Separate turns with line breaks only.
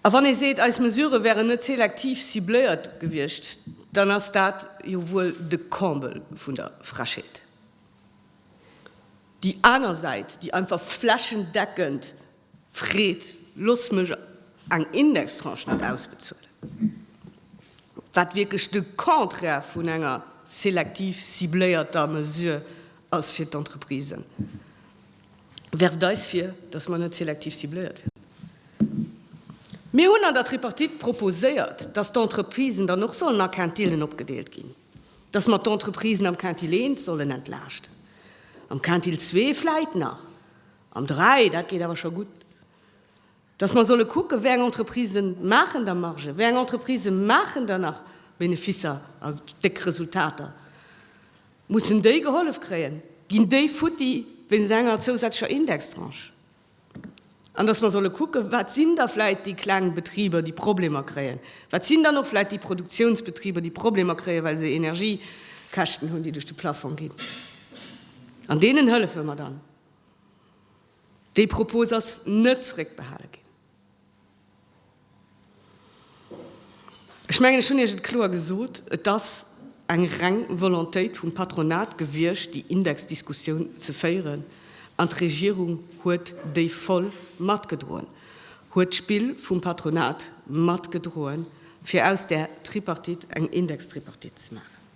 A wann ee seet, eis Mesurë wären net selektiv cibléiert gewiescht, dann ass dat jo wuel de Comble vun der Frechheet. Déi aner Säit, déi einfach flächendeckend freet, Loosst mech eng Indextranche net ausbezuelen, wat wierklech de Contraire vun enger selektiv cibléierter Mesure ass fir d'Entreprisen. werft eis vir, dass mer net selektiv cibléiert wieren. Mir hunn an der Tripartite proposéiert, dass d'Entreprisen dann och sollen a Quintillen opgedeelt ginn, dass mer d'Entreprisen am Quintil 1 sollen entlaaschten, am Quintil 2 vläit nach, am 3, dat geet awer scho gutt. dass mer solle kucken, wéi eng Entreprisen maachen da Margen, wéi eng Entreprisen maachen da nach Beneficer a déck Resultater, mussen déi gehollef kréien, ginn déi futti wéinst enger zousätzlecher Indextranche? An dass mer solle kucken, wat sinn da vläit déi kleng Betriber, déi Problemer kréien, wat sinn dann och vläit déi Produktionsbetriber, déi Problemer kréien, well se Energiekäschten hunn, déi duerch de Plafong ginn, an deenen hëllefe mer dann. Déi Propos ass net zréckbehale ginn. Ech mengen, ech hunn Iech et kloer gesot, Et ass eng reng Volontéit vum Patronat gewiescht, déi Indexdiskussioun ze féieren, an d'Regierung huet déi voll matgedroen, huet d'Spill vum Patronat matgedroen, fir aus där Tripartite eng Indextripartite ze maachen.